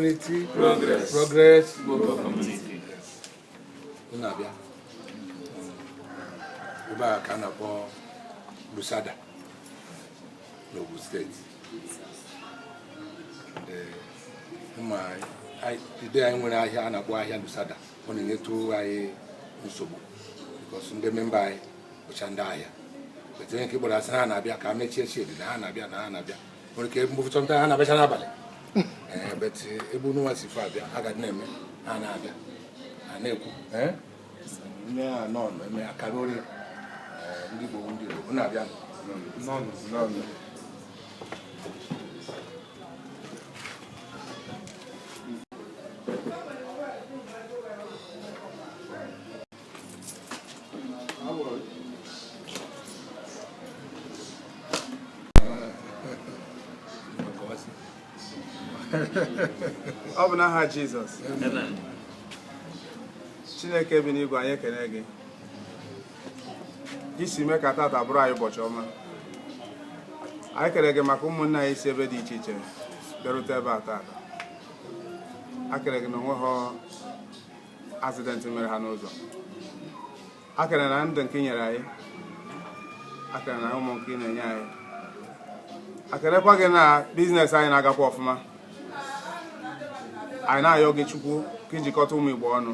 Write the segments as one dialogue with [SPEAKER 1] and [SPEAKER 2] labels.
[SPEAKER 1] Unity, progress,
[SPEAKER 2] progress, Igbo
[SPEAKER 1] community. Unu abịa. Ebe a ka a na-akpọ Lusada n'Ogun State. Ma today anyị nwere ahịa a na-akpọ ahịa Lusada, ọ na-enyetụ anyị nsogbu because ndị member anyị bụcha ndị ahịa. But onye nke gbara asị na ha na-abịa ka ha mechie shedi na ha na-abịa na ha na-abịa. nwere ike mgbe ụfọdụ ha na-abịacha n'abalị eh, but eh, ebe unu nwa si far abịa a gadị na-eme ha na-abịa ha na-ekwu eh? nne ha nọ eme akara ori ndị Igbo ndị Igbo na-abịa
[SPEAKER 3] ọ bụ n'aha Jizọs Chineke bi n'igwe anyị ekene gị i si mee ka tata bụrụ anyị ụbọchị ọma anyị kene gị maka ụmụnne anyị si ebe dị iche iche bịarute ebe a tata a kene gị na o nwehọ accident mere ha n'ụzọ a kene na ndụ nke i nyere anyị a kene na ụmụ nke ị na-enye anyị a kenekwa gị na business anyị na-agakwa ọfụma anyị na-ayọ gị chukwu ka ị jikọta ụmụ igbo ọnụ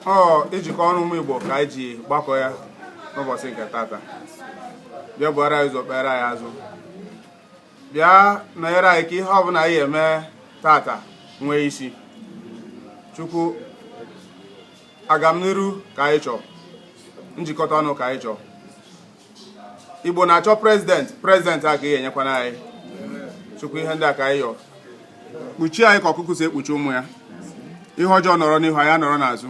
[SPEAKER 3] ọ ijikọ ọnụ ụmụ igbo ka anyị ji gbakọ ya n'ụbọchị nke tata bịa buara anyị ụzọ kpere anyị azụ bịa nọnyere anyị ka ihe ọbụla anyị eme tata nwee isi chukwu agamniru ka anyị chọọ njikọta ọnụ ka anyị chọọ igbo na-achọ president president a ka i nyekwanụ anyị chukwu ihe ndị a ka anyị yọọ kpuchie anyị ka ọkụkụ si ekpuchi ụmụ ya ihe ọjọọ nọrọ n'ihu anyị anọrọ n'azụ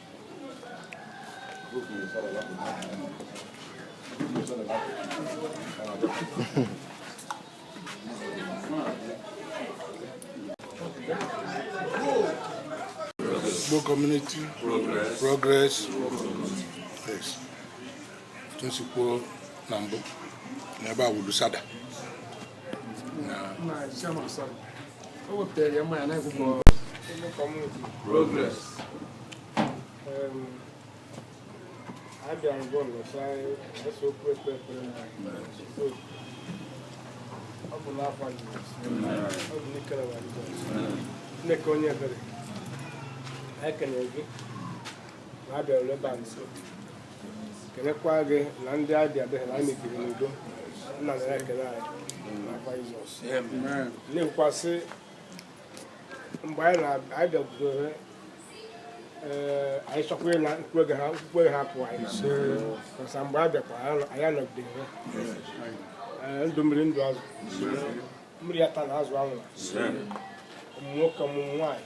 [SPEAKER 1] Igbo community progress, progress. Yes. otu m si kwuo na mbụ na ebe a wụ Lusada na ọ bụ
[SPEAKER 2] n'afọ ọ
[SPEAKER 4] bụ n'ikere Chineke onye ebere ekele gị na abịarụla ebe a nso kenekwa gị na ndị ọbịa bịa na anyị biri n'udo nna na ya ekele anyị n'afa Jizọs na-ekwukwasị mgbe anyị na-abịagudore ee anyị chọkwa na mkpụrụ ha mkpụrụ ha pụọ anyị masa mgbe a bịakwa anyị anọgide ha Ee, ndụ mmiri ndụ azụ mmiri atana azụ anwụ ụmụ nwoke ụmụ nwaanyị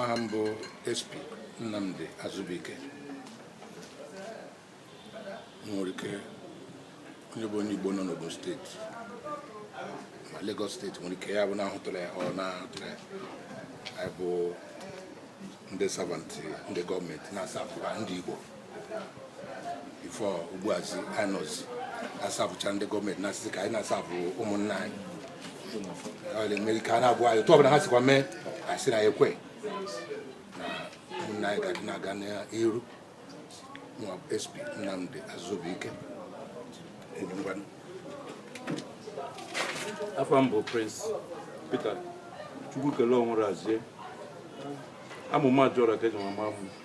[SPEAKER 1] aha m bụ SP Nnamdi Azubuike nwere ike onye bụ onye Igbo nọ n'Ogun steeti ma Lagos steeti nwere ike ya bụ na ahụtụla ya ọ na-ahụtụla ya anyị bụ ndị servant ndị gọọmenti na-asavụra ndị Igbo before ugbuazi anọzi asavụcha ndị gọọmenti na-asịzị ka anyị na-asavụ ụmụnna anyị na-eme ike a na-agwa anyị otu ọbụla ha sikwa mee asị na ekwe na ụmụnna anyị ga-adị na-aga n'iru nwa SP Nnamdi
[SPEAKER 5] Azubuike afa m bụ Prince Peter Chukwukele Onwurazie amụma jụrụ ka eji ama m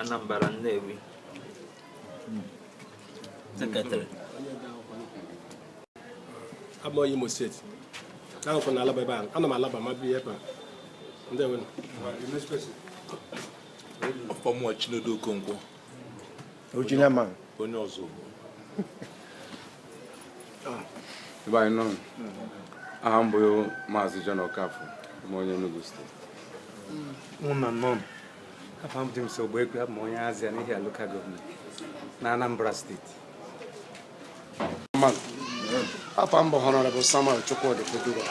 [SPEAKER 6] Anambra
[SPEAKER 4] Nnewi sekretarị abụ m onye Imo steeti ahụkwa na Alaba ebe a ana m Alaba ma bi ebe a ndị nwe
[SPEAKER 7] ọfọ mụwa Chinedu
[SPEAKER 4] Okonkwo original man onye
[SPEAKER 8] ọzọ ebe anyị nọ aha m bụ maazị John Okafor m onye Enugu steeti
[SPEAKER 9] afa m dị m so Ogbuekwe abụ m onye Azia n'Ihiala local government na Anambra
[SPEAKER 4] steeti afa m bụ Honorable Samuel Chukwudi Oduwa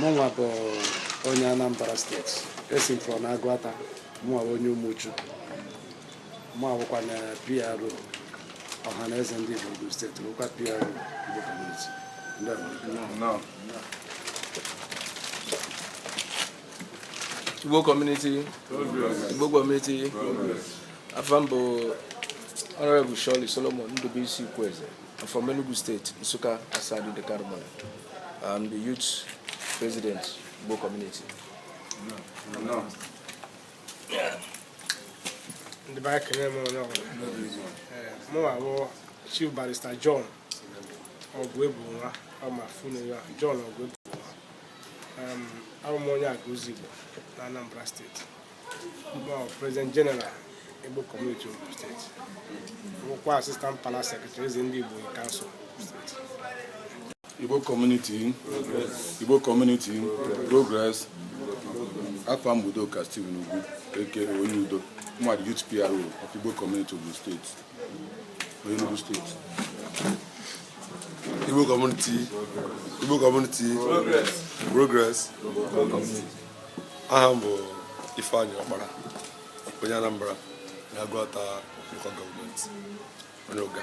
[SPEAKER 4] mụnwa bụ onye Anambra steeti esi m from Agụata mụnwa onye Umuchu mụ awụkwa na PRO Ọhaneze ndị Igbo Ogun steeti bụkwa PRO Igbo Community
[SPEAKER 2] Igbo community Igbo community afa m bụ Honorable Shirley Solomon Ndubuisi Ikwueze I'm from Enugu State Nsukka Asadu Ideke Alumona I'm the youth president Igbo
[SPEAKER 4] community ndị be anyị ekelee m onye ọbụla mụnwa bụ Chief Barrister John Ogwuebunwa ọ ma funu ya John Ogwuebu abụ m onye Agụlụzigbo na Anambra steeti mụ bụ prezident jeneral Igbo kọmuniti Ogun steeti bụkwa asistant palace sekretrị eze ndị Igbo kansụl
[SPEAKER 1] steeti Igbo kọmuniti Igbo kọmuniti progress afa m bụ Udoka Steven Ugwu a.k.a onye udo m bụ the youth PRO of Igbo kọmuniti Ogun steeti Enugu
[SPEAKER 7] steeti Igbo kọmuniti Igbo kọmuniti progress aha m bụ Ifeanyi Ọkpara onye Anambra na Aguata local gọọmenti onye Ụga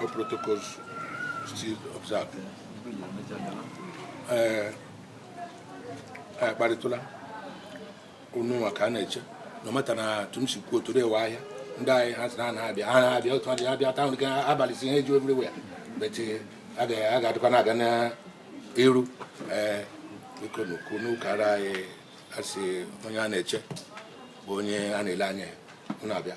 [SPEAKER 1] All protocols still observed. Ee, anyị akparịtụla unu nwa ka a na-eche no matter na tụm si kwuo tụrụ ewe ahịa ndị anyị ha sị na ha na-abịa ha na-abịa otu adị abịa taa nke abalị si ihe ju everywhere but eh, a ga- a ga-adịkwa na-aga n'iru ee biko na ukwu n'ụkara anyị asị onye a na-eche bụ onye a na-ele anya ya unu abịa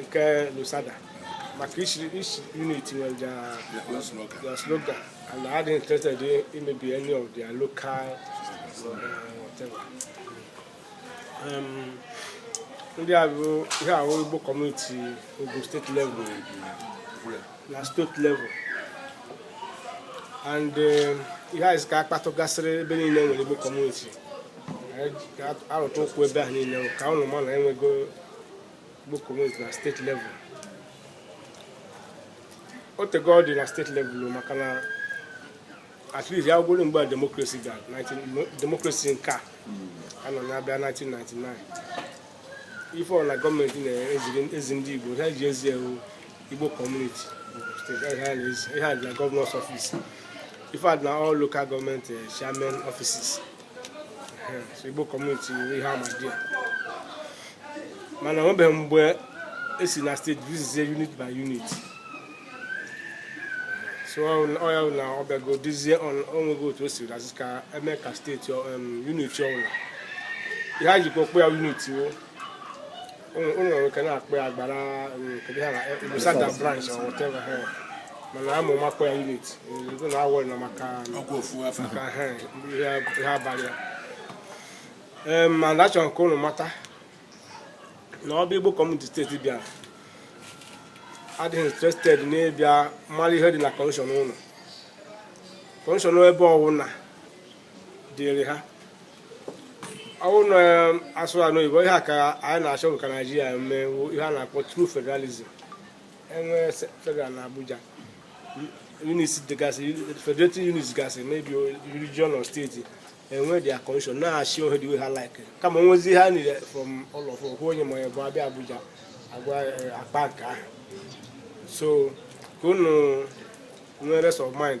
[SPEAKER 4] nke Lusada maka each unit nwere their slogan and adị interested in maybe any of their local uh, whatever. Um, ndị a bụ ihe ahụ Igbo kọmuniti Ogun steeti level na steeti level and um, ihe anyị ka akpatụgasịrị ebe niile nwere Igbo kọmuniti arụtụ ụkwụ ebe ahụ niile ka ụnụ ma na enwego Igbo kọmuniti na steeti level o tego ọ dị na steeti level maka na at least ya bụrụ mgbe demokrasi a demokrasi nke a a nọ ya bịa 1999 ife ọwụla gọọmenti na-ezi ndị Igbo ha ji ezi ọ wụ Igbo kọmuniti ihe a dị na gọvanọs ọfis ife a dị na all local gọọmenti eh, chairman ọfisis Igbo kọmuniti ihe ama dị ya mana onwebeghị mgbe esi na steeti visitzie unit by unit so ọ ya na ọ bịago dizie onwego otu o siri azụ ka eme ka steeti unit ọbụla ihe e jikwa akpọ ya unit o mana ama m akpọ ya unit ego na ọ wụ na maka maka ihe a bịara ya mana achọrọ ka ụnụ mata na ọ bụ Igbo kọmuniti steeti bịara adịghị interested n'ịbịa mara ihe dị na kọnstitushọn ụnụ kọnstitushọn ebe ọwụna dịrị ha ọwụ na asụrụ anụ oyibo ihe a ka anyị na-achọ ka naijiria mewe ihe a na-akpọ true federalism enwe federal na abuja units dịgasị federative units gasị maybe region or steeti enwe their constitution na-achị ohe dị ha like kama onwezi ha nile from ụlọ okwu onye ma bụ abịa abuja agwa eh, akpa nke ahụ so ka unu nwere rest of mind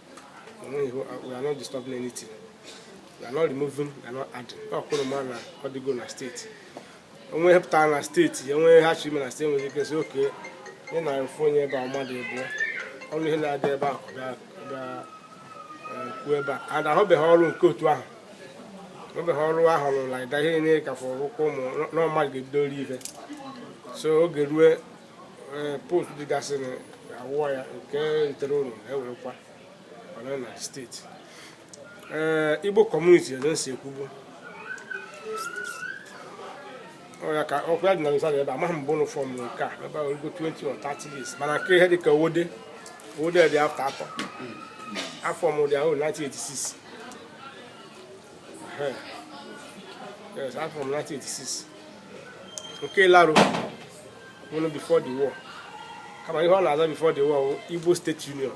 [SPEAKER 4] onwe pụtara na steeti ya nwere ha chiri na steeti nwere ike sị okay ị na mfe onye ebe a mmadụ ebuo ọrụ ihe na-adị ebe a kwuo ebe a ada ahụbeghị ọrụ nke otu ahụ ahụbeghị ọrụ ahụ rụrụ like that ihe niile ka fọrọ ụkwụ ụmụ na mmadụ ga-ebido ori ife so oge rue post dịgasị awụwa ya nke ntere unu ewerekwa ọnọ na steeti ee igbo kọmuniti eze si ekwubu ọya ka ọkwa ya dị na Lusada ebe amaghị mgbe unu fọm nke a ebe o rugo 20 or 30 years mana nke ihe dịka owode owode dị after Atan a fọm dị ahụ 1986 yes a fọm 1986 nke Ilaro wụrụ before the war kama ihe ọ na-aza before the war Igbo State Union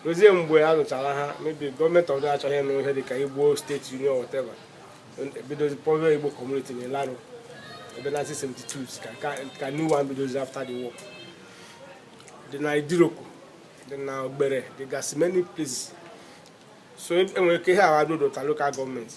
[SPEAKER 4] ruzie mgbe a nụchara agha maybe gọọmenti ọdụ achọghị ịnụ ihe dịka Igbo State Union whatever ebidozi kpọwa Igbo community na Ilaro ebe na 1972 ka new one bidozi after the war dị na Idiroko dị na Ogbere dịgasị many places so enwere ike ihe agha dodota local gọọmenti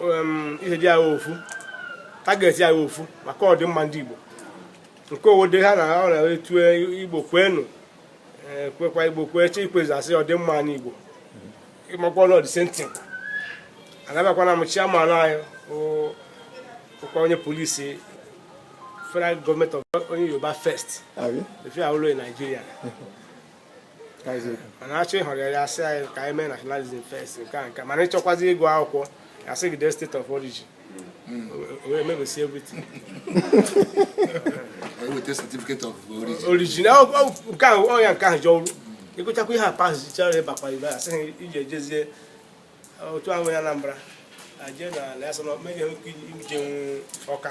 [SPEAKER 4] um, idea ha ofu tageti ha ofu maka ọdịmma ndị Igbo nke owode ha na ọ na-etu Igbo kwenu eh, kwekwa Igbo kwechaa ikwezi a sị ọdịmma ndị Igbo ịmakwa na ọ the same thing anabakwana m chiaman anyị wụkwa onye polisi federal gọọmenti onye Yoruba first efi awụlo Nigeria mana achọ ịhọrọ ya asị anyị ka anyị mee nationalism first nke a nke mana ịchọkwazi ịgụ akwụkwọ a sị gị dee state of origin wee mebisi everything
[SPEAKER 1] weta certificate of origin
[SPEAKER 4] origin nke ahụ ọya nke ahụ ji ọrụ ịgụchakwa ihe a pasịchara ịbịakwa ebe a sị gị jezie otu ahụ ya Anambra aje na na ya sọ na ọ nweghị ike ije ọka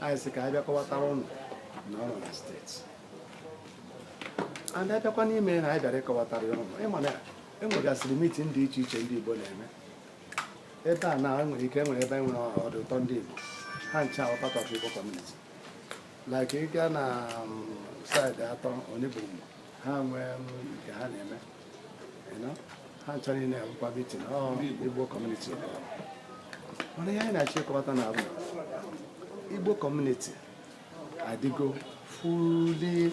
[SPEAKER 4] anyị sị ka anyị bịa kọwatara unu na o ruo na steeti anyị abịakwa n'ime na anyị bịara ịkọwatara unu ịma na enwegasịrị mitin dị iche iche ndị Igbo na-eme ebe a na enwere ike enwere ebe enwere ọdụ ụtọ ndị Igbo ha ncha wụ part of Igbo community like ịga na um, saịdị Atan onye bụ ha nwee um, nke ha na-eme ha ncha niile abụkwa meeting igbo community mana ihe anyị na-achọ ịkọwata na abụ igbo community adịgo fully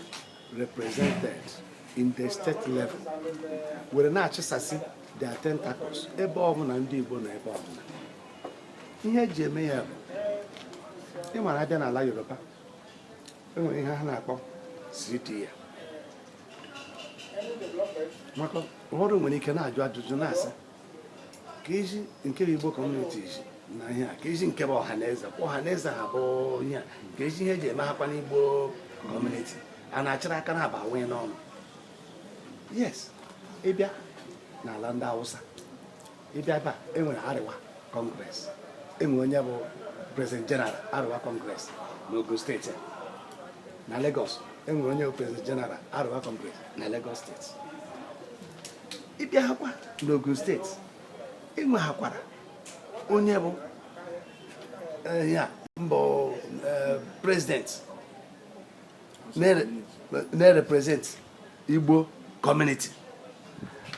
[SPEAKER 4] represented in the state level were na-achịsasị their tentacles ebe ọbụla ndị igbo nọ ebe ọbụla ihe eji eme ya bụ ịmara abịa n'ala yoruba enwere ihe ha na-akpọ cda maka ụfọdụ nwere ike na-ajụ ajụjụ na-asị kezi nke bụ igbo community iji na ihe a kezi nke bụ Ọhaneze kwa Ọhaneze ha bụ ihe a kezi ihe eji eme hakwa n'igbo community a na-achịrị aka na-aba nwee n'ọnụ yes ịbịa n'ala ndị awụsa ịbịa ebe a enwere Arewa Congress enwere onye bụ president general Arewa Congress n'Ogun State na Lagos enwere onye bụ president general Arewa Congress na Lagos State ịbịa hakwa n'Ogun State enwe hakwara onye bụ eh, ya mbụ eh, president na-represent igbo community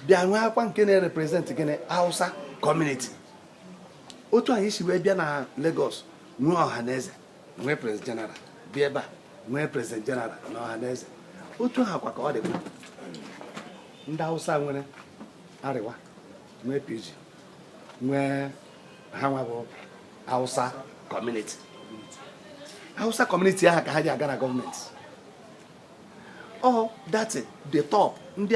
[SPEAKER 4] bịa nwee akwa nke na-represent gịnị hausa community otu anyị si wee bịa na Lagos nwee Ọhaneze nwee president general bịa ebe a nwee president general na Ọhaneze otu ha kwa ka ọ dịkwa ndị hausa nwere Arewa nwee PG nwee ha nwa bụ hausa community hausa community ahụ ka ha ji aga na government ọ dị at the top ndị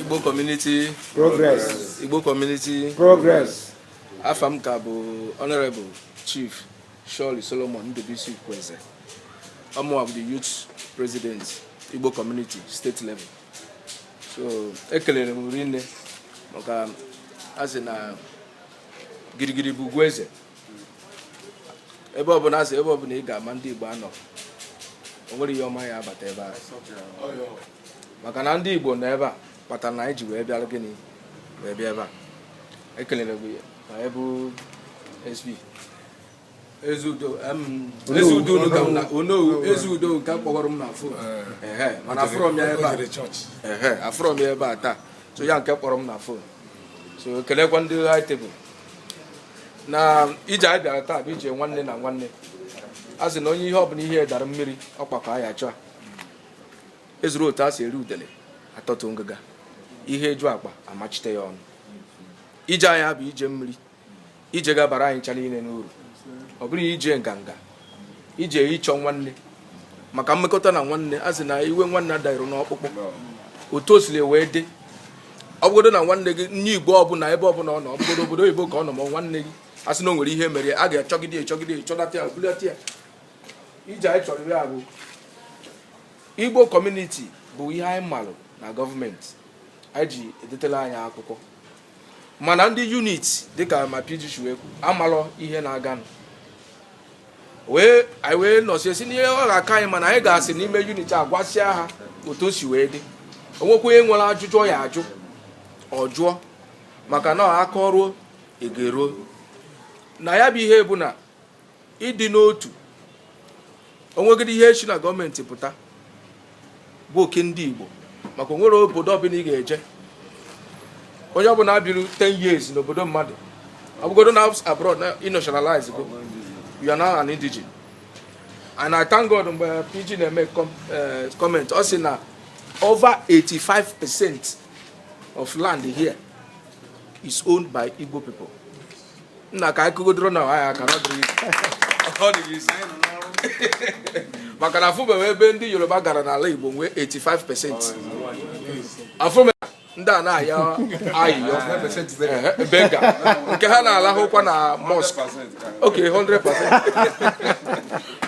[SPEAKER 2] Igbo Community
[SPEAKER 3] Progress Igbo
[SPEAKER 2] Community
[SPEAKER 3] Progress afa m ka
[SPEAKER 2] bụ Honorable Chief Shirley Solomon Ndubisi Ukwueze ọ mụwa bụ the youth president Igbo Community state level so ekelere m rinne maka a sị na girigiri bụ ugwu eze ebe ọbụla asị ebe ọbụla ị ga ma ndị Igbo anọ o nwerọ ihe ọma ya abata ebe a maka na ndị Igbo nọ ebe a kpatara na anyị ji wee bịara gịnị wee bịa ebe a ekelere gị ma ị bụ SP Ezeudo unu ka m na onowu Ezeudo nke kpọgọrọ m na phone mana afụrọ m ya ebe a afụrọ m ya ebe a taa so ya nke kpọrọ m na phone so kelekwa ndị high table na ije anyị bịara taa bụ ije nwanne na nwanne a sị na onye ihe ọbụla ihe dara mmiri ọkpakọ ya chọọ ezuru otu a si eri udele atọtụ ngịga ihe eju akpa amachite ya ọnụ ije anyị bụ ije mmiri ije gabara anyị ncha niile n'uru ọ bụrụ ije nganga ije ịchọ nwanne maka mmekọta na nwanne a sị na iwe nwanne ada eru n'ọkpụkpụ otu o siri wee dị ọ bụgodo na nwanne gị onye igbo ọbụla ebe ọbụla ọ nọ ọ bụgodo obodo oyibo ka ọ nọ ma nwanne gị a sị na o nwere ihe mere a ga-achọgide echọgide echọlata ya bulata ya ije anyị chọrọ ya bụ igbo community bụ ihe anyị malụ na gọọmenti anyị ji edetela anyị akwụkwọ mana ndị unit dịka ma PG chiwekwu amalọ ihe na-aganụ wee anyị wee nọsie si n'ihe ọ ga-aka anyị mana anyị ga-asị n'ime unit a gwasịa ha otu o si wee dị o nwekwa onye nwere ajụjụ ọ ya ajụ ọ jụọ maka na akọrọ egero na ya bụ ihe bụ na ịdị n'otu o nweghị ihe shi na gọọmenti pụta bụ oke ndị Igbo maka o nwere obodo ọbụla ị ga-eje onye ọbụla biri 10 years n'obodo mmadụ ọ bụgodo na abroad na ị nationalizego you are now an indigene and I thank God mgbe PG na-eme eh, comment ọ sị na over 85 percent of land here is owned by Igbo people nna ka anyị kụgodoro onwe anyị aka na ọ dịrọ easy. Ọ dịrọ easy. maka na afụbeghị ebe ndị yoruba gara n'ala igbo nwee 85 percent afụme ndị a na-ayọ ayịyọ Ehe, beggar nke ha na-alahụkwa na mosque okay 100%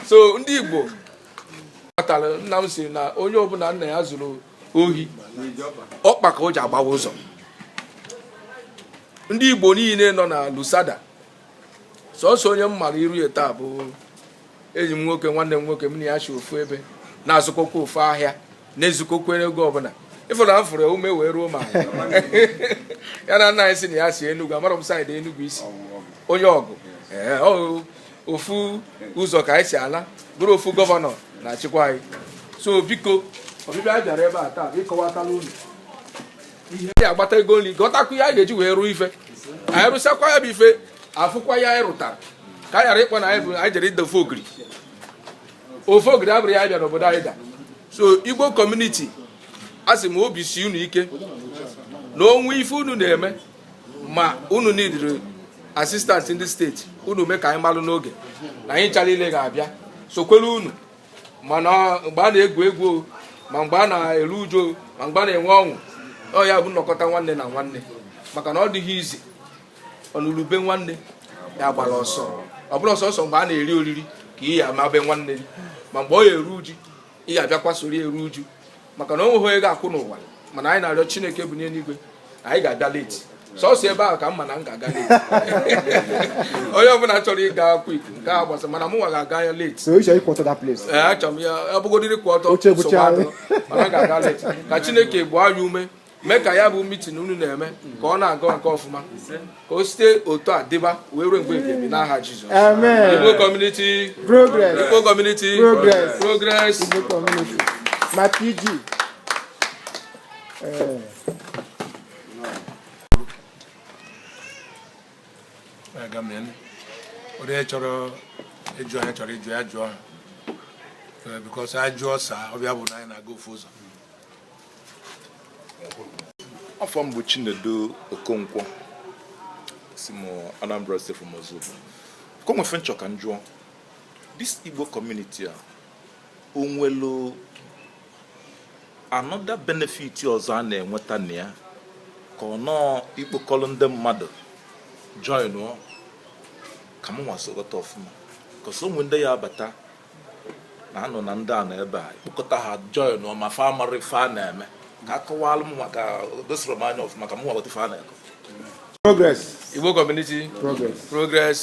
[SPEAKER 2] so ndị igbo kpatara nna m sị na onye ọbụla nna ya zụrụ ohi ọkpa ka o ji agbawa ụzọ ndị igbo niile nọ na Lusada sọsọ onye m mara iru ya taa bụ enyi m nwoke nwanne m nwoke m na ya shi ofu ebe na-azụkọkwa ofu ahịa na-ezukọkwa ego ọbụla ịfụrụ m fụrụ ume wee ruo ma ya na nna anyị sị na ya si Enugu amarọ m side Enugu i si onye Awgu ofu ụzọ ka anyị si ala bụrụ ofu governor na-achịkwa anyị so biko ọbịbịa anyị bịara ebe a taa ịkọwatala unu ihe anyị agbata ego nri gọtakwu ya anyị ga-eji wee rụọ ife anyị rụsakwa ya bụ ife afụkwa ya anyị rụtara ka anyị ghara ịkpọ na anyị bụ anyị jere ịda ofe ogiri ofe ogiri abụrụ ya bịara obodo anyị da so igbo community a sị m obi si unu ike na o nwe ife unu na-eme ma unu nidiri assistant in the state unu mee ka anyị malụ n'oge na anyị ncha niile ga-abịa sokwere unu ma mgbe a na-egwu egwu ma mgbe a na-eru uju ma mgbe a na-enwe ọṅụ ọ ya-abụ nnọkọta nwanne na nwanne maka na ọ dịghị izi ọ nụlụ ube nwanne ya gbara ọsọ ọ bụrụ sọọsọ mgbe a na-eri oriri ka ị ya amabe nwanne ma mgbe ọ ya eru uju ị ga-abịakwa soro eru uju maka na o nweghị onye ga-akwụ n'ụwa mana anyị na-arịọ chineke bụ n'eluigwe anyị ga-abịa leti sọsọ ebe ahụ ka m ma na m ga-aga leti onye ọbụla chọrọ ịga kwik nke a gbasa mana mụnwa ga-aga ya leti So you should equal to that place. ee achọrọ m ya abụgodiri kwa ọtọ Oche bụcha nsogbu adịrọ. mana m ga-aga leti ka chineke gbaa anyị ume mee ka ya bụ mitin unu na-eme ka ọ na-aga nke ọfụma ka o site otu a dịba wee ruo mgbe ebibi n'aha Jizọs Igbo kọmuniti progress Igbo kọmuniti progress progress Igbo kọmuniti
[SPEAKER 3] ma
[SPEAKER 1] PG onye chọrọ ịjụ ihe ọ chọrọ ịjụ ya jụọ ha because a jụọ a saa ọ bịa bụ na anyị na-aga ofu ụzọ
[SPEAKER 10] afa m bụ Chinedu Okonkwo si m Anambra State from Ozubulu ka o nwe ife m chọ ka m jụọ this Igbo community a o nwelu another benefit ọzọ a na-enweta na ya ka ọ nọọ ikpokọrọ ndị mmadụ join ka m nwa so ghọta ọfụma because o nwe ndị ya-abata a nụ na ndị a nọ ebe a kpokọta ha join ma fa amarọ ife a na-eme ka a kọwalụ m ka o dosoro m anya ọfụma ka m ghọta ife a na-akọ progress
[SPEAKER 2] igbo community progress progress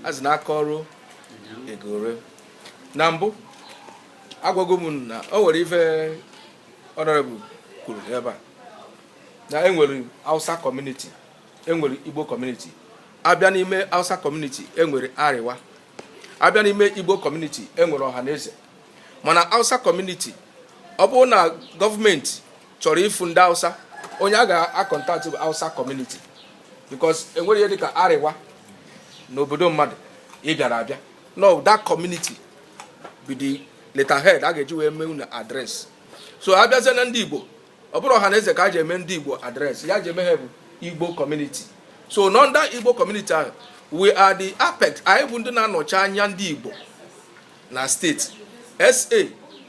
[SPEAKER 2] azị na aka ọrụ egore na mbụ agwago m na o nwere ife honorable kwuru ebe a na enwere hausa community enwere igbo community a bịa n'ime hausa community enwere Arewa a bịa n'ime igbo kọmuniti enwere Ọhaneze mana hausa kọmuniti ọ bụrụ na gọọmenti chọrọ ịfụ ndị hausa onye a ga-akọntaktị bụ hausa kọmuniti because enwere ihe dịka Arewa n'obodo mmadụ ị bịara abịa no that community bụ the letterhead a ga-eji wee mee unu adres so a bịazie na ndị igbo ọ bụrọ Ọhaneze ka a ji eme ndị igbo adreesị ihe a ji eme ha bụ igbo kọmuniti so n'under igbo kọmuniti ahụ we are the apex anyị bụ ndị na-anọchi anya ndị igbo na steeti SA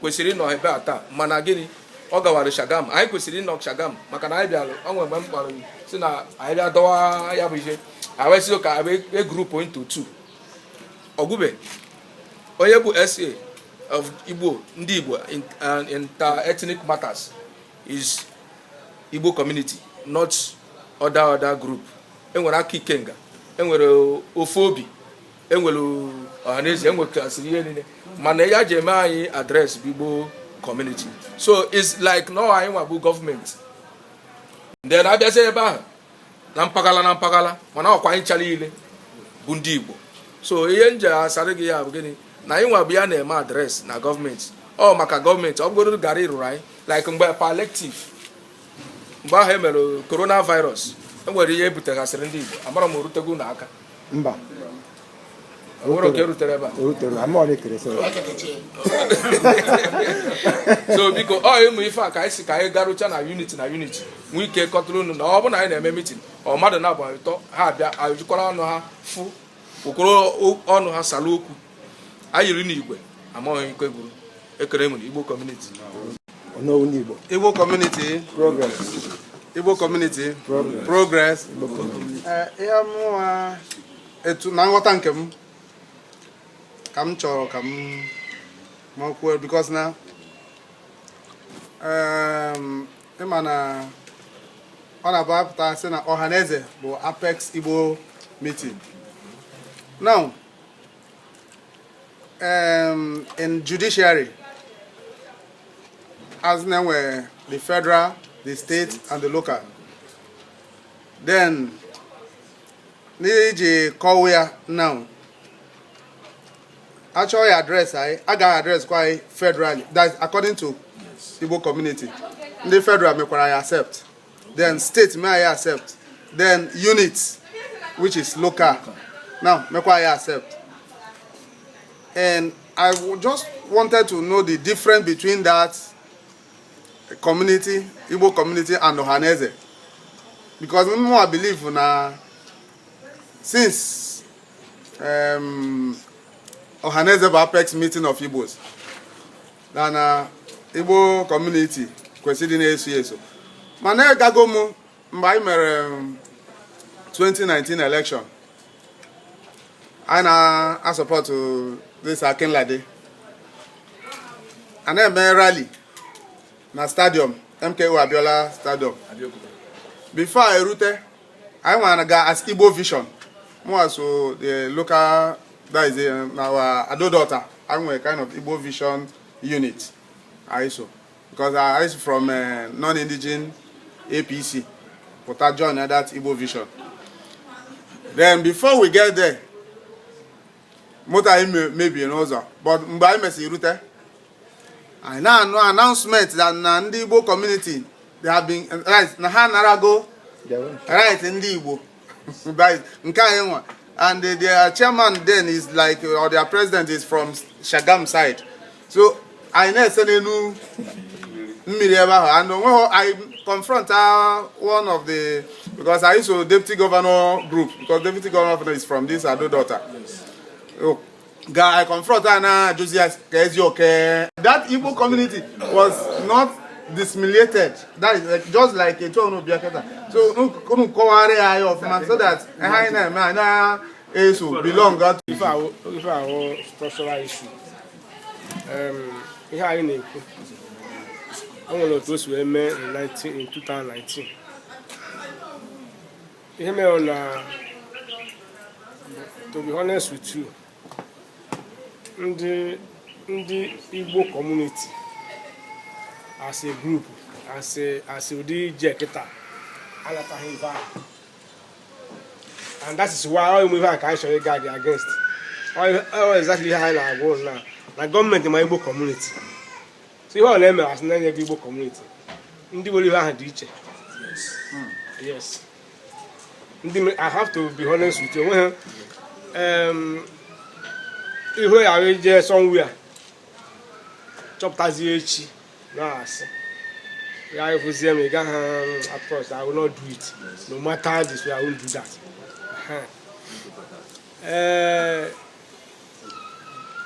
[SPEAKER 2] kwesịrị ịnọ ebe a taa mana gịnị ọ gawara shagam anyị kwesịrị ịnọ shagam maka na anyị bịara ọnwa mgbe m kpọrọ sị na anyị bịa dọwa ya bụ ihe anyị wee kee group into two Ogube onye bụ SA of Igbo, ndị Igbo inter-ethnic matters is Igbo community, not other other group. Enwere Aka Ikenga, enwere Ofu Obi, enwere Ọhaneze, enwegasịrị ihe niile. Mana ihe e ji eme anyị address bụ Igbo community. So it's like na anyị nwa bụ government. Then abịazie ebe ahụ na mpaghara na mpaghara mana ọkwa anyị cha niile bụ ndị Igbo so ihe m je-asara gị ya bụ gịnị na anyị nwa bụ ya na-eme address na government ọ maka government ọ bụgoro gara ịrụrụ anyị like mgbe palliative mgbe ahụ e mere coronavirus e nwere ihe e butegasịrị ndị Igbo amarọ m o rutego unu aka mba o nwere nke rutere ebe so biko ọ ụmụ ife a ka anyị si ka anyị garụcha na unit na unit nwee ike kọtụrụ unu na ọ bụ na anyị na-eme meeting ọ mmadụ na-abụ ụtọ ha abịa ajụkwara ọnụ ha fụ okoro ọnụ ha sara okwu anyị yiri n'igwe amaghị ike gwuru ekere nwere Igbo
[SPEAKER 3] community Igbo community Igbo community progress eh, ihe mụwa etu na nghọta nke m ka m chọrọ ka m makwuo because na ehm, ịma na ọ na-abụ a pụta sị na Ọhaneze bụ apex Igbo meeting now um, in judiciary as in enwe the federal the state and the local then n'iji kọwa ya na a chọọ i-address anyị a ga-address kwa anyị federally that according to Igbo community ndị federal mekwara anyị accept then state mee anyị accept then unit which is local now mekwa anyị accept and I just wanted to know the difference between that community Igbo community and Ohaneze because mụnwa believe na since um, Ohaneze bụ apex meeting of Igbos then na Igbo community kwesịrị na-eso eso mana agago m mgbe anyị mere 2019 um, election anyị na-asupport this Akinlade a na-eme rally na stadium MKO Abiola stadium before anyị rute anyị wee gaa as Igbo Vision mụwa so the local that is um, our Ado-Odo Ota anyị nwere kind of Igbo Vision unit anyị so because anyị si from uh, eh, non-indigene APC, pụta join that Igbo Vision. Then before we get there, moto anyị mebie n'ụzọ but mgbe anyị mesịrị rute anyị na-anụ announcement that na ndị Igbo community they have been right na ha anarago right ndị Igbo nke anyị nwa and the, their chairman then is like or their president is from Shagamu side so anyị na-ese n'elu mmiri ebe ahụ and o nweghị I confront uh, one of the because I used to deputy governor group because deputy governor is from this Ado-Odo Ota. Oh, ga confront ya na-ajụzi ya ka ezi oke that Igbo community was not dismiliated that is like, just like etu unu bịa kịta so unu kọwara ya anyị ọfụma so that ihe anyị na-eme anyị na-eso belong to
[SPEAKER 4] ife ahụ structural issue ihe anyị na-ekwu o nwere otu o si wee mee in 2019 ihe mere na to be honest with you ndị ndị Igbo community as a group as a as a ụdị ije kịta anataghị ife ahụ and that is why ọ ihe a ka anyị chọrọ ị guard against ọ exactly ihe anyị na-agwa unu na government ma Igbo community so ihe ọ na-eme asị na-enye gị Igbo community ndị nwere ihe ahụ dị iche yes ndị I have to be honest with you onwe ha ihu ya ahụ ije somewhere chọpụtazie echi na-asị ya efuzie m ị gaghị approach I will not do it no matter this way I won't do that ee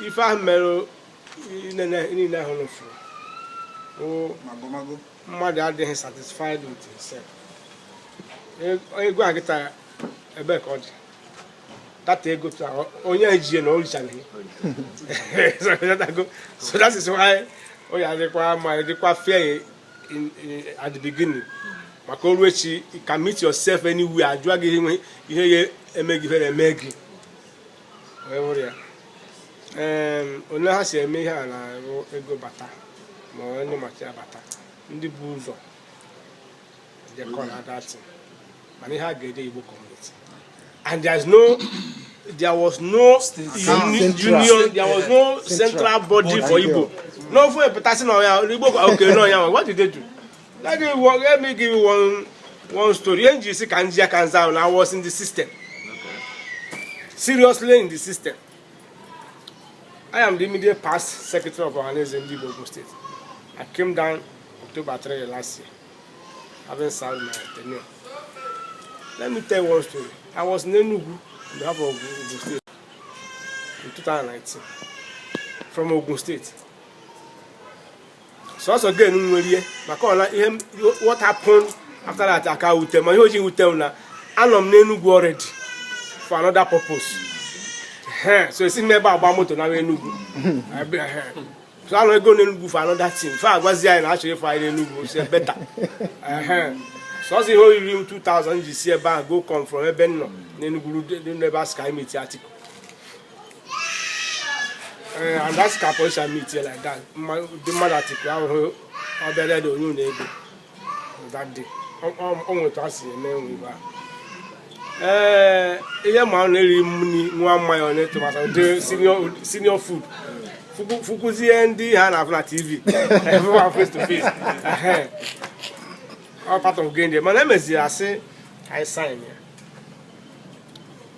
[SPEAKER 4] ife ahụ mere niile ahụ na ụfọdụ mmadụ adịghị satisfied with himself ego a kịta ebe ka ọ dị data ego taa onye ejie na o richaghị so that is why o ya adịkwa ma dịkwa fair at the beginning maka o ruo echi you can meet yourself anywhere a jụọ gị ihe ya eme gị eme gị ole ha si eme ihe a nara ego bata ma ọ any material bata ndị bu ụzọ jekọ na that thing mana ihe a ga-ede Igbo community and there is no there was no union there was no central body for Igbo n'ofu a pụta sị na ọ ya Igbo okay na ọ ya what did they do? Let me work, let me give you one one story. Ihe nji si ka nji aka nza ahụ na I was in the system. Seriously in the system. I am the immediate past secretary of Ohaneze Ndi Igbo State. I came down October 3 last year, having served my tenure. Let me tell you one story. I was in Enugu on behalf of Ogun State in 2019 from Ogun State. so also again nwerie maka ọla ihe what happened after that aka wute ma ihe o ji wute m na anọ m n'enugwu already for another purpose so esi m ebe a gba moto na enugwu so anọgo m n'enugwu for another thing fa agwazi anyị na achọrọ ịfụ anyị n'enugwu is better sọsọ ihe o riri m 2000 ji si ebe ahụ go come from ebe m nọ n'enugwu n'ebe a sị ka anyị meet atiku Eh, and that's ka police meet here like that the mother atiku ahụ ọ bịara dị onye ụlọ ego that day ọ nweta asị eme nwe ibe a ee ihe ma ọ na-eri mmiri na mmanya ọ na-etomata ụdị senior food fụkwuzie ndị ha na-afụ na tv everyone face to face ọ part of game day mana emeziri asị anyị sign ya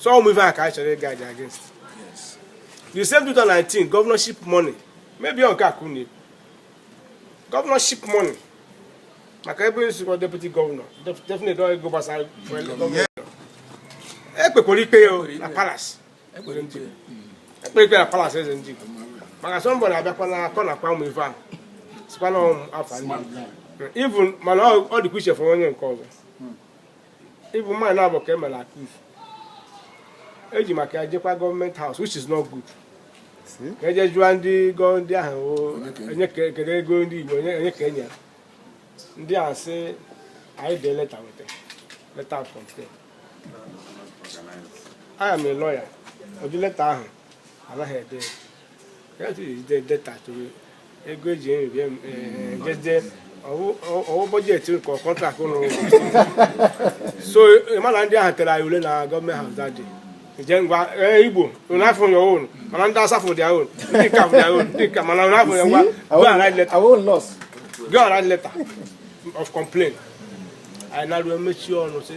[SPEAKER 4] so ụmụ ife a ka a chọrọ ị guide against the same 2019 governorship money maybe ọ nke a ka unu governorship money maka ebe nsikwa deputy governor definitely ọ ego gbasara e kpekwara ikpe ya na palace e kpere ikpe na palace eze ndị Igbo maka somebody na-abịakwa na-akọ nakwa ụmụ ife ahụ sikwa na afọ ndị even mana ọ dịkwa iche fọrọ onye nke ọzọ even mana na-abụ ka emere akụf eji maka ya jekwa government house which is not good ka eje jụọ ndị gọ ndị ahụ onye kedu ego ndị igbo onye ka enye ndị ahụ sị anyị dee leta weta leta of complaint I am a lawyer ụdị leta ahụ anaghị ede ego eji nri bịa jede ọ wụ budget nke contract ụlọ so mana ndị ahụ tere anyị ule na government house that day je ngwa igbo n'afọ ya ọhụrụ mana ndị asafụ dị ahụrụ ndị ka dị ahụrụ ndị ka mana n'afọ ya ngwa go and write letter go and write letter of complaint anyị na-arụ emechi ọnụ sị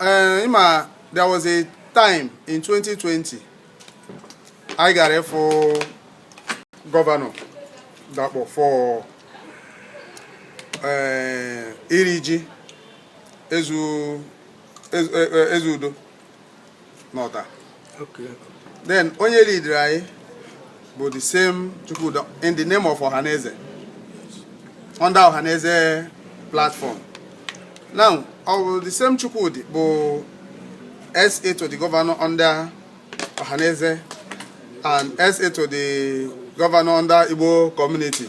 [SPEAKER 3] ee ị ma there was a time in 2020 anyị gara ịfụ gọvanọ Dapọ for eh, iri ji eze eze eh, eh, udo n'Ọta
[SPEAKER 4] Okay. Then
[SPEAKER 3] onye leader anyị bụ the same Chukwudi in the name of Ohaneze under Ohaneze platform. Now, our, the same Chukwudi bụ SA to the governor under Ohaneze and SA to the governor under Igbo community.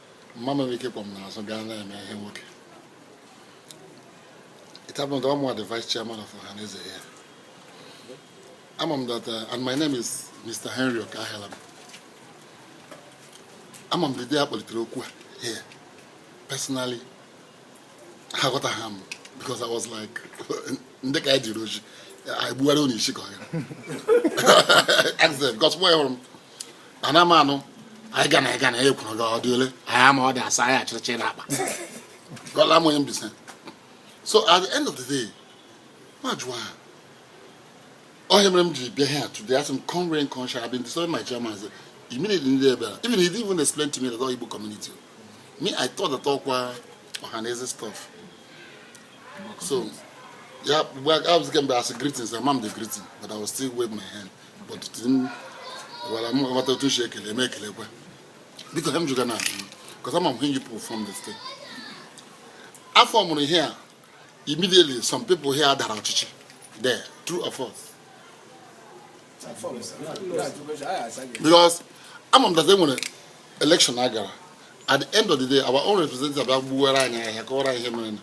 [SPEAKER 7] mma nwere ike kpọm n'azụ gaa na-eme ihe nwoke it happened that I'm the vice chairman of Ohaneze here. I'm on that, uh, and my name is Mr. Henry Okahelam. ama m dede a kpọlitere okwu a here. Personally, aghọtaha m because I was like, ndị ka anyị jiri oji anyị gbuwara unu isi ka ọ ya because mụ hụrụ m ana m anụ anyị ga na ịga na ya ekwuru gị ọ dị ole anyị ama ọ dị asaa anyị achịrịchị na akpa gọla m onye mbisa so at the end of the day m ajụọ ha ọ ihe mere m ji bịa here today asị m come rain come shine I've been disturbing my chairman say immediately ndị ebe a even he didn't even explain to me that all Igbo community me I thought that ọkwa ọhaneze stuff so ya mgbe I was getting as greetings, amaghị m the greeting, but I was still wave my hand. gwara m aghọta otu e si ekele m ekelekwa biko ihe m jụga na because ama m ihe yipụ from the state afọ mere ihe a immediately some people here dara ọchịchị there true or false because ama m that enwere election a gara at the end of the day our own representative abịa gbuwere anyị ahịa kọwara ihe mere na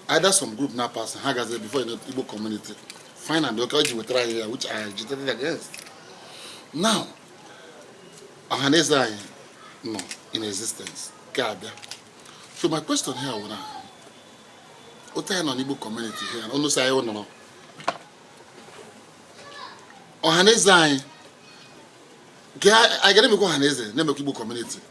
[SPEAKER 7] either some group na pass ha gazi before you know Igbo community fine and okay ji wetara anyị ya which I agitated against now ọhaneze anyị nọ in existence nke a bịa so my question here wụ na otu anyị nọ n'Igbo community here na unu sị anyị nọrọ ọhaneze anyị nke anyị ga na-emekwa ọhaneze na-emekwa Igbo community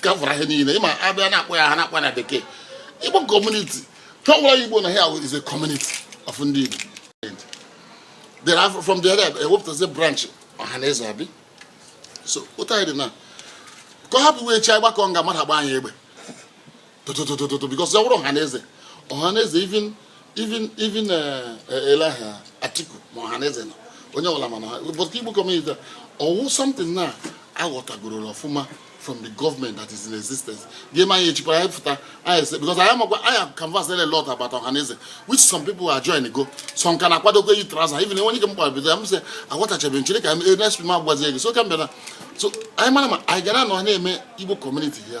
[SPEAKER 7] kavara ihe niile ịma abịa na-akpọ ya ha na-akpọ na bekee igbo kọmuniti ha gwara ya igbo na ha is a community of ndị igbo there are from the area ewepụtazi branch ọha na eze abi so otu anyị dị now ka ọ happen ụbọchị anyị gbakọ nga mmadụ agba anyị egbe tototototo because ya wụrụ ọhaneze ọhaneze even even even eh, Alhaji atiku ma ọhaneze nọ onye ọbụla mana ha but igbo community ọwụ something na aghọtagoro ọfụma from the government that is in existence game anyị echikwara anyị pụta anyị ese because anyị makwa anyị canvass a lot about ọhaneze which some people ajoingo some ka na-akwadokwa eyi traza even enwe nke m gbara bido ya m sị aghọtachabeghị m chere ka next week m agwazie gị so ka m bịara so anyị mara ma anyị ga-anọ na-eme igbo community ya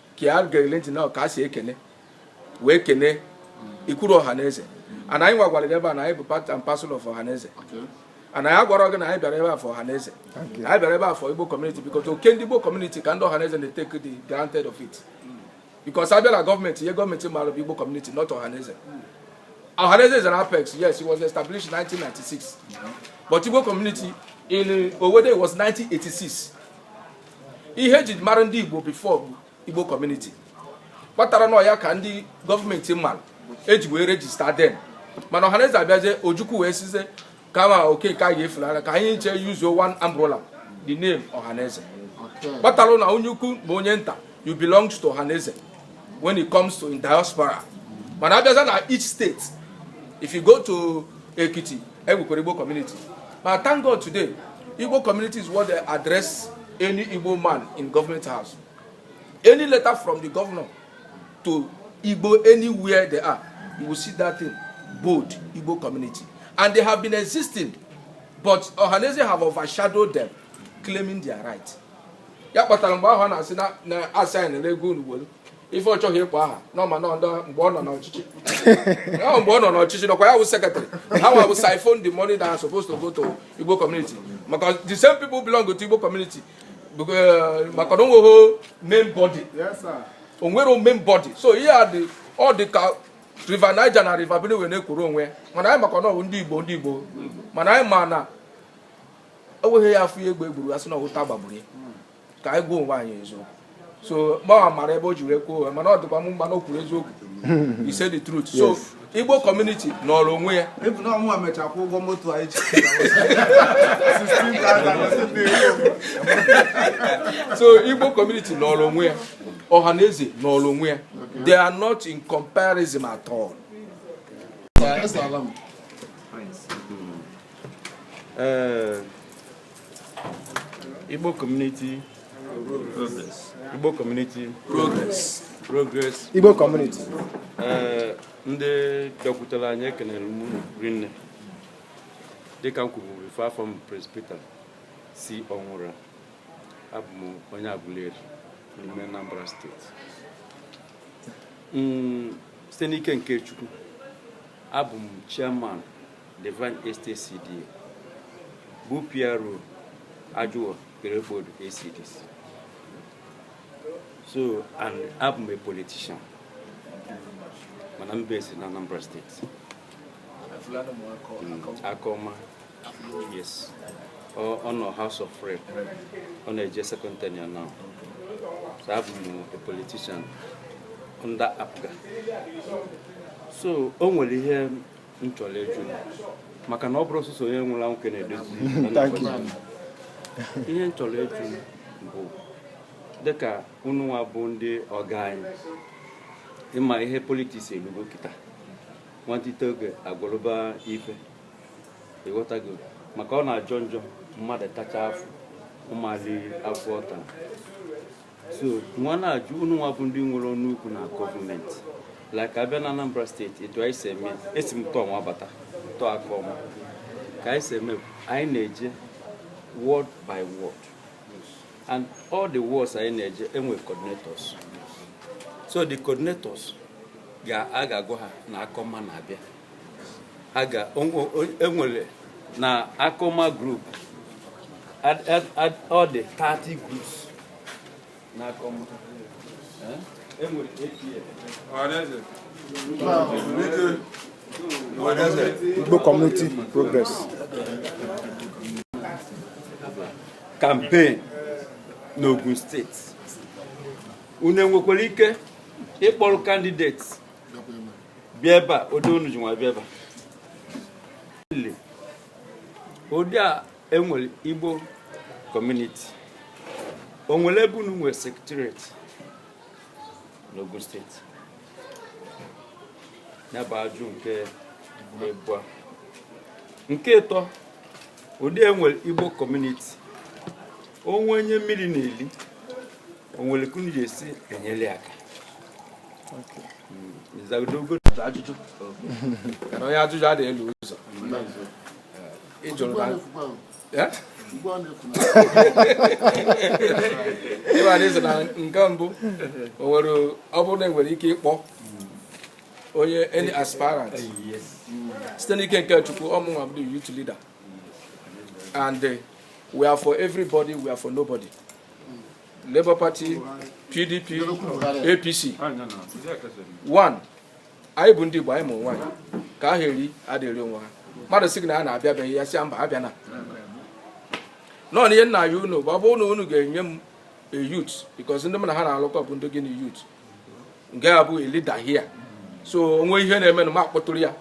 [SPEAKER 2] ka ya gerile ntị na ka e si ekene wee kene e kwuru ọha na eze and anyị gwagwara gị ebe a na anyị bụ part and parcel of ọha na eze and anyị agwara gị na anyị bịara ebe a for ọha na eze anyị bịara ebe a for igbo community because ọ nke ndị igbo community ka ndị ọha na eze na-etake the granted of it because a bịa na gọọmenti ihe gọọmenti mara bụ igbo community not ọha na eze ọha na eze is an apex yes it was established 1996 but igbo community in Owerri was 1986 ihe eji mara ndị igbo before bụ igbo community kpatara na ọ ya ka ndị government mara eji wee register then mana ọhaneze abịazie ojukwu wee sịzie kama okeke a ga-efulara ka anyị chee yuzuo one umbrella the name ọhaneze kpatara na onye ukwu ma onye nta you belong to ọhaneze when it comes to in diaspora mana abịaza na each state if you go to ekiti e nwekwara igbo community ma thank god today igbo community is what they address any igbo man in government house any letter from the governor to igbo anywhere they are you will see that thing bold igbo community and they have been existing but ohaneze have overshadowed them claiming their right ya kpatara mgbe ahụ a na-asị na a sị anyị na ego unu ife ọ chọghị ịkpọ aha n'ọma na ọdọ mgbe ọ nọ n'ọchịchị ọ mgbe ọ nọ n'ọchịchị nọkwa ya wụ secretary ha nwa bụ siphon the money that are supposed to go to Igbo community maka the same people belong to Igbo community eh, maka na o nweghị main body o nwere main body so ihe a dị ọ dị ka river Niger na river Benue na-akwụrụ onwe mana anyị maka na ọ bụ ndị Igbo ndị Igbo mana anyị ma na enweghị ya a fụ ihe egbe gburu a sị na ọ wụ ụta gbagburu ya ka anyị gwa onwe anyị eziokwu so mụwa mara ebe o ji wee kwuo mana ọ dịkwa m mma na o kwuru eziokwu he said the truth so igbo community nọrọ onwe ya Ebu na ọ mụ amecha
[SPEAKER 3] kwụọ ụgwọ moto anyị ji.
[SPEAKER 2] so igbo community nọrọ onwe ya ọhaneze nọrọ onwe ya they are not in comparison at all Ee,
[SPEAKER 5] Igbo community progress. Igbo community
[SPEAKER 2] progress. Progress.
[SPEAKER 11] Igbo community. Eh, ndị
[SPEAKER 5] bịakwutere anyị ekenere m unu rinne dịka m kwuburu ife afa m Prince Peter C Ọnwụra abụ m onye Aguleri n'ime Anambra state mm, site n'ike nke Chukwu abụ m chairman Divine Estate CDA bụ PRO Ajuwon Irepodun ACDC so and abụ m a politician mana m base na Anambra state Akaọma yes ọ nọ House of Rep ọ na-eje second tenure now so abụ m a politician under APGA so o nwere ihe m chọrọ ịjụ maka na ọ bụrọ sọsọ onye nwụrụ anwụ ka a na-edozi ihe m chọrọ ịjụ bụ dịka unu nwa bụ ndị ọga anyị ị ma ihe politiks elugo kịta nwantịte oge agwụrụba ife ị ghọtago maka ọ na-ajọ njọ mmadụ tacha afụ ọ ma eli afụ ọ ta so nwa na-ajụ unu nwa bụ ndị nwere ọnụ ukwu na gọọmenti like a bịa na Anambra steeti etu anyị si eme esi m tọọ nwa bata tọọ akọma ka anyị si eme anyị na-eje ward by ward
[SPEAKER 12] and all the wards anyị na-eje enwe coordinators so the coordinators ga-aga agwa ha na akọma na-abịa aga enwere na akoma group ọ dị 30 groups na akoma
[SPEAKER 11] enwere APF Igbo Community
[SPEAKER 12] Progress campaign n'Ogun steeti unu enwekwara ike ịkpọrọ candidates bịa ebe a ụdị unu ji wee bịa ebe a ụdị a enwere igbo kọmuniti o nwere ebe unu nwere secretariat n'Ogun steeti ya bụ ajụ nke ịbụa nke ịtọ ụdị enwere igbo kọmuniti o nwe onye mmiri na-eli o nwere ka unu ga-esi enyere aka m zagodu gị
[SPEAKER 2] ajụjụ kana onye ajụjụ adịghị efu ụzọ ị jụrụ na ịba n'ịsị na nke mbụ o nwere ọ bụrụ na enwere ike ịkpọ onye any aspirant site n'ike nke chukwu ọ mụnwa bụ youth leader and we are for everybody we are for nobody Labour Party PDP APC one anyị bụ ndị Igbo anyị ma onwe anyị ka ahụ eri adịrị onwe ha mmadụ sị gị na a na-abịa be gị ị ya-asị mba abịana no na ihe m na-ayọ unu bụ ọ bụrụ na unu ga-enye m a youth because ndị m na ha na-alụkọ bụ ndị gịnị youth nke a bụ a leader here so o nwee ihe na-eme na m akpọtụrụ ya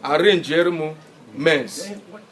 [SPEAKER 2] arrange-ere m men's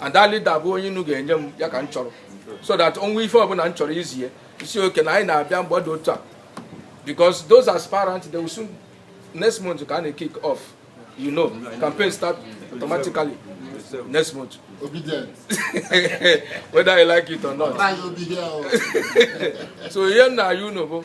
[SPEAKER 2] and that leader bụ onye unu ga-enye m ya ka m chọrọ so that o nwee ife ọbụla m chọrọ izi ya ị sị okay na anyị na-abịa mgbe dị otu a because those aspirants they will soon next month ka a na-kick off you know campaign start automatically next
[SPEAKER 7] month Obedient.
[SPEAKER 12] whether you like it or not Try obi here. oh. so ihe m na-ayọ unu bụ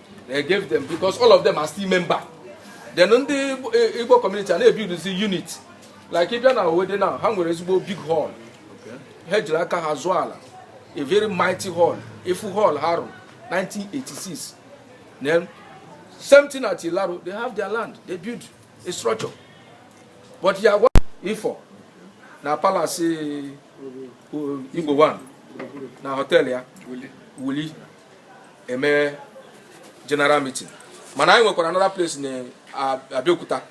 [SPEAKER 12] they gave them because all of them are still member then ndị eh, igbo community a na-ebiduzi unit like ị bịa na Owode now ha nwere ezigbo big hall ha jiri aka ha zụọ ala a very mighty hall a full hall ha rụrụ 1986 then same thing at Ilaro they have their land they build a structure but ya gwa Ifo na palace Eze Igbo one na hotel ya wuli eme general meeting mana anyị nwekwara another place na Abeokuta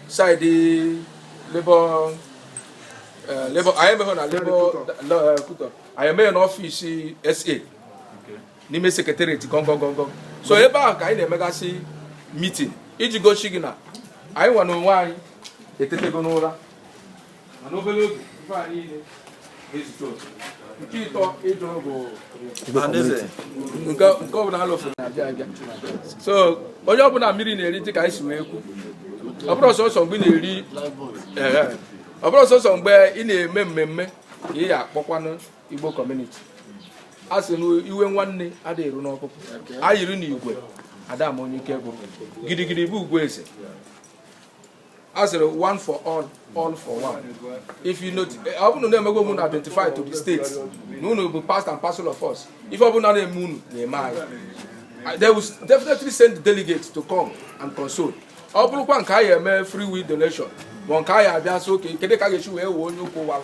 [SPEAKER 12] side labour eh, labour anyị emeghị na labour eh, anyị emee na office SA n'ime secretariat gongongongo so ebe ahụ ka anyị na-emegasị meeting iji gosi gị na anyị nwa na onwe anyị etetego n'ụra mana obere oge ife a niile ga-ezute otu nke ịtọ ịjụ bụ nke ọbụla alụfụ na-abịa abịa so onye ọbụla mmiri na-eri dị ka anyị si wee kwu ọ bụrọ sọsọ mgbe ị na-eri ọ bụrọ sọsọ mgbe ị na-eme mmemme ka ị ya akpọkwanụ igbo community a sị na iwe nwanne ada eru n'ọkpụkpụ a yiri na igwe ada ama onye ike gwụrụ gidigidi bụ ugwu eze a sịrị one for all all for one if you notice eh, ọ bụrụ na emego unu identify to the state na unu bụ part and parcel of us ife ọ bụla na-eme unu na-eme anyị uh, they will definitely send the delegates to come and console ọ bụrụkwa nke anyị eme free will donation ma nke anyị abịa so okay kedu ka a ga-esi wee wee onye ụkwụ ụwa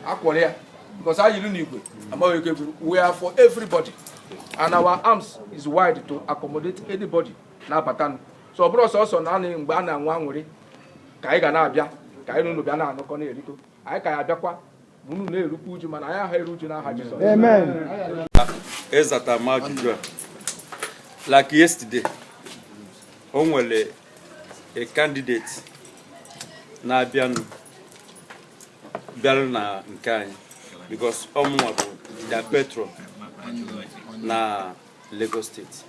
[SPEAKER 12] akwụrụ ya because anyị yiri n'igwe amaghị ike gwụrụ we are for everybody and our arms is wide to accommodate anybody na-abata so ọ bụrọ sọsọ naanị mgbe a na-aṅụ aṅụrị ka anyị ga na-abịa ka anyị na unu bịa na-aṅụkọ na-erikọ anyị ka ya abịakwa unu na-erukwa uju mana anyị aha eru uju n'aha Jizọs
[SPEAKER 5] ezata m ajụjụ a like yesterday o nwere a candidate na-abịanụ bịara na nke anyị because ọ mụnwa bụ the patron na Lagos State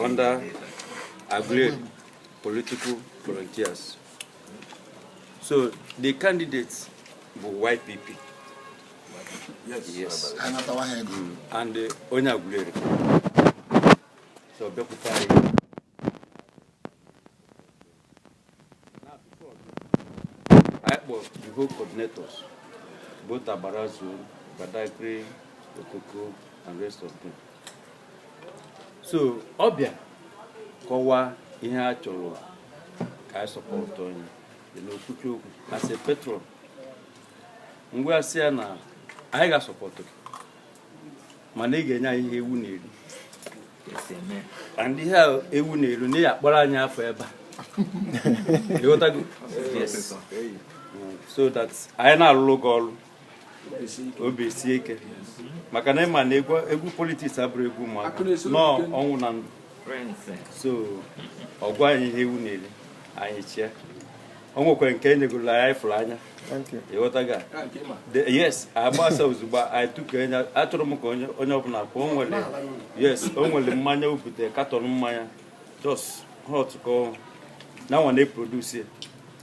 [SPEAKER 5] under Agreed political volunteers so the candidate bụ YPP yes, yes. Mm. and uh, onye Aguleri so bịakwute anyị Ekpo the whole coordinators, both Agbara zone, Badagry, Okoko, and rest of them. So ọ bịa kọwa ihe a chọrọ ka anyị support onye dị n'okwuchi okwu as a patron m wee sị ya na anyị ga-asupport gị mana ị ga-enye anyị ihe ewu na-eri and ihe ewu na-eri na ya akpọrọ anyị afọ ebe a so that anyị na-arụrụ gị ọrụ obi sie ike maka na ị ma na egwu politics abụrọ egwu ụmụaka no ọnwụ na ndụ so ọ gwa anyị ihe ewu na-eri anyị chịa o nwekwara nke enyegoro anyị fụrụ anya ịghọtago yes agbasa ozugbo anyị tuke anya achọrọ m ka onye ọbụla ka o nwere yes o nwere mmanya o butere katọn mmanya just hot ka na nwa na-eproduce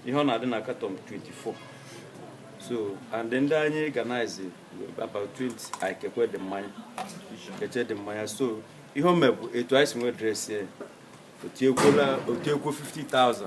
[SPEAKER 5] ihe ọ na-adị na katọn 24 so and then anyị organize about 20 anyị kekwe the mmanya kechaa the mmanya so ihe o me bụ etu anyị si wee dress o tiekwuo 50,000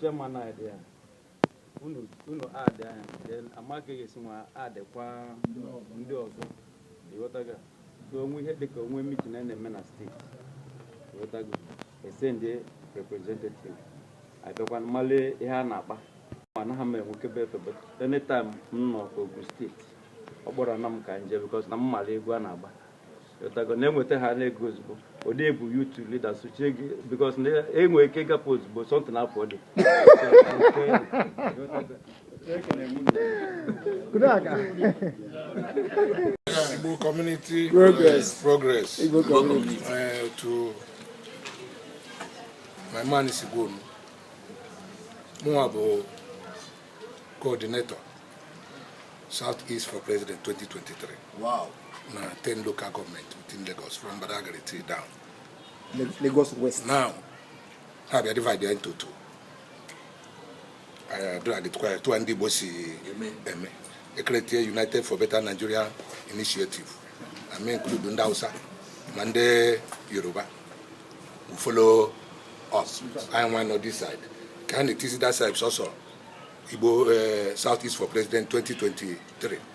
[SPEAKER 5] chairman add ya unu unu add ya then amaka ga-esi nwa addkwa ndị ọzọ ịghọtago so o nwe ihe dịka o nwe meeting a na-eme na steeti ịghọtago e send representative abịakwa m malụ ihe a na-akpa ma anaghị m enwekebe efe but anytime m nọ Ogun steeti ọ kpọrọ na m ka m je because na m mara egwu a na-agba Ịghọtago na enwetahana ego ozugbo ụdị ebu youth leader sochie gị because na enwe ike ịgapụ ozugbo something for
[SPEAKER 1] the Igbo Community Progress. Progress. Igbo
[SPEAKER 11] Community. Uh,
[SPEAKER 1] to my man is Igbo. Mụnwa bụ coordinator South East for President 2023.
[SPEAKER 11] Wow. Na 10 local
[SPEAKER 1] government within Lagos from Badagry till down. Lagos
[SPEAKER 11] West. Now,
[SPEAKER 1] ha bịa divide ya into two. Adụragịtụkwa ya etu a ndị Igbo si eme. E create United for Better Nigeria Initiative. I mean include ndị Hausa ma ndị Yoruba. follow us anyị nwa nọ this side ka a na-etizi that side sọsọ igbo eh, south east for president 2023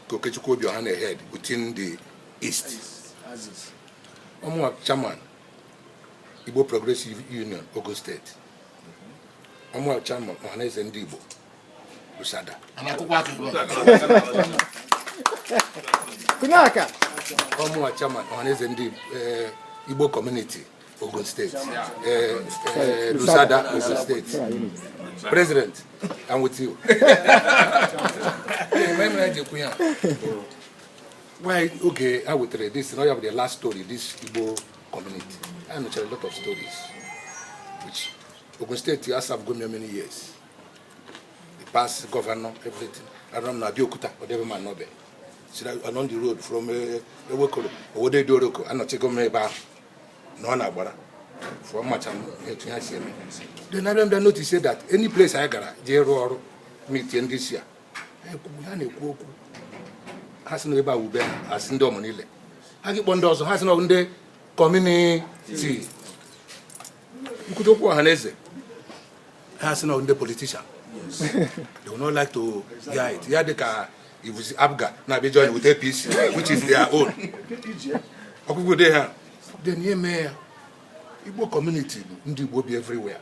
[SPEAKER 1] ka okechukwu Obioha na-ehead within the east ọ mụwa chairman igbo progressive union Ogun State ọ mụwa chairman ọhaneze ndị igbo
[SPEAKER 11] Kunaka. Ọ mụwa
[SPEAKER 1] chairman ọhaneze ndị eh, Igbo community Ogun State, eh, eh, Lusada Ogun State. President, I'm with you. Why oge a wetara this na ọ ya bụ the last story this Igbo community. I nụchara a lot of stories which Ogun State has have gone many years. past governor everything aram na Abeokuta ọ dị ebe m anọbe so along the road from eh, Ewekoro Owode Idiroko anọchago m ebe ahụ nọ na Agbara fụọ macha m etu ha si eme then abịa m bịa notice that any place anyị gara jee rụọ ọrụ meeting ndị si a ha ekwu- ha na-ekwu okwu ha si na ebe a wube ha asị ndị omonile ha gị kpọ ndị ọzọ ha si na ọ bụ ndị community ị kwute okwu ọhaneze ha sị na ndị politician they will not like to hear it ya dị ka ibuzi apga na-abịa join with apc which is their own ọkụkụ dị ha then e mee ya igbo community bụ ndị igbo bi everywhere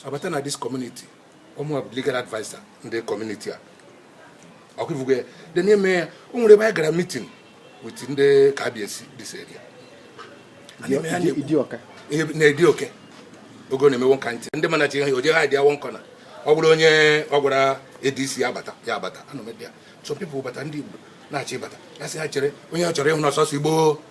[SPEAKER 1] abata na this community ọ mụ legal adviser ndị community a ọkwa ị fụgo ya dị n'ime ya o nwere ebe anyị gara meeting with ndị kabiyesi this area na idioke ogo na-emewo nka ntị ndị mana chi ha oje ha dị one corner ọ bụrụ onye ọ gwara adc ya abata ya abata anọ m ya some people bata ndị igbo na-achọ ịbata ya sị ha chere onye ọ chọrọ ịhụ n'ọsọsọ igbo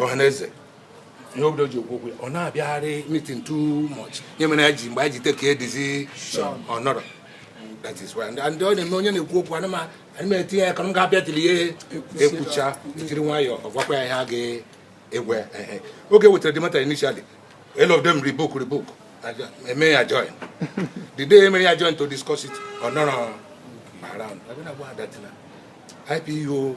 [SPEAKER 1] ọhaneze ihe obodo ji okwu okwu ya ọ na-abịagharị meeting too much ihe mere ya ji mgbe anyị ji take decision ọ nọrọ that is why ndị ọ na-eme onye na-ekwu okwu ana m etinye ya ka m ga-abịa tiri ihe ekwucha tiri nwayọọ ọ gwakwa ya ihe a ga-egwe oge e wetara the matter initially all of them rebuke rebuke e mee ya adjourn the day e mere ya adjourn to discuss it ọ nọrọ around IPO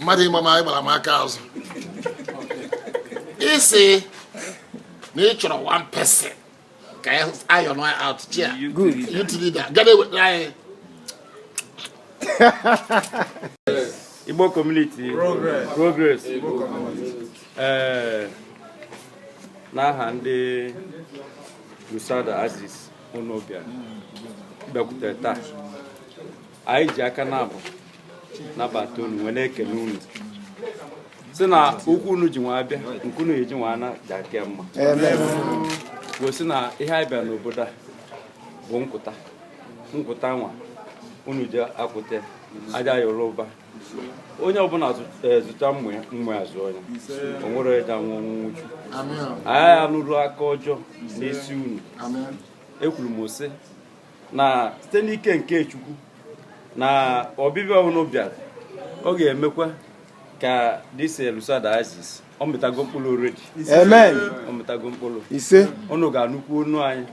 [SPEAKER 7] mmadụ ịgba m gbara m aka azụ ị sị na ị chọrọ one person ka anyị nọ out here youth leader
[SPEAKER 11] ga
[SPEAKER 7] na-ewetara anyị
[SPEAKER 5] Igbo community
[SPEAKER 3] progress
[SPEAKER 5] ee n'aha ndị Lusada axis unu bịa bịakwutere taa anyị ji aka naabọ nabata unu wee na-ekele unu sị na ụkwụ unu ji wee bịa nke unu eji wee ana ja-aka mma gosi na ihe anyị bịa n'obodo a bụ nkwụta nkwụta nwa unu ji akwụta aja ya ụba onye ọbụla e, zụta mma ya azụọ ya o nwere onye ja-anwụ ọnwụ nwụchu anyị anụrụ aka ọjọọ n'isi unu ekwuru m sị na site n'ike nke Chukwu na ọbịbịa unu bịara ọ ga-emekwa ka this Lusada axis ọ mịtago mkpụrụ already amen ọ
[SPEAKER 11] mịtago mkpụrụ
[SPEAKER 5] ise unu
[SPEAKER 11] ga-anụkwu onu
[SPEAKER 5] anyị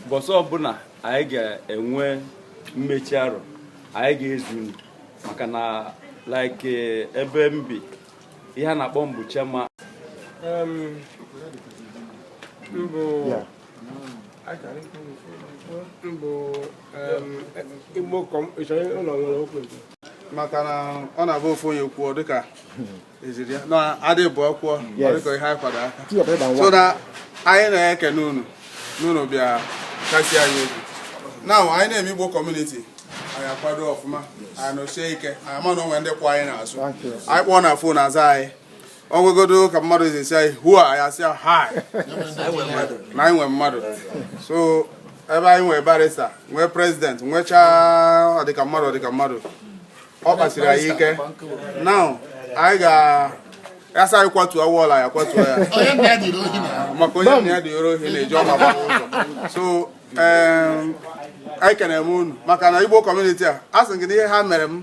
[SPEAKER 5] mbọsị ọbụla anyị ga-enwe mmechi arọ anyị ga-ezi unu maka na like eh, ebe m bi ihe a na-akpọ m bụ chairman mbụ
[SPEAKER 3] maka na ọ na-abụ ofu onye kwuo dịka eziri ya na a dị abụọ kwuo dịka ihe anyị kwado aka so na anyị na-ekene unu n'unu bịa kasie anyị obi na anyị na-eme igbo community anyị akwado ọfụma anyị nọsie ike anyị ma na o nwee ndị kwụ anyị n'azụ anyị kpọọ na phone aza anyị ọ gwagodo ka mmadụ ji si anyị hụa anyị asị ya ha na anyị nwe mmadụ so ebe anyị nwee barrister nwee president nwechaa ọdịka mmadụ ọdịka mmadụ ọ kpasiri anyị ike now anyị ga-asị anyị kwatuo wall anyị akwatuo
[SPEAKER 7] ya maka onye nna ya duru
[SPEAKER 3] ohi na-eji ụma agbawa ụzọ so em, anyị kenere m unu maka na igbo community a a sị gị na ihe ha mere m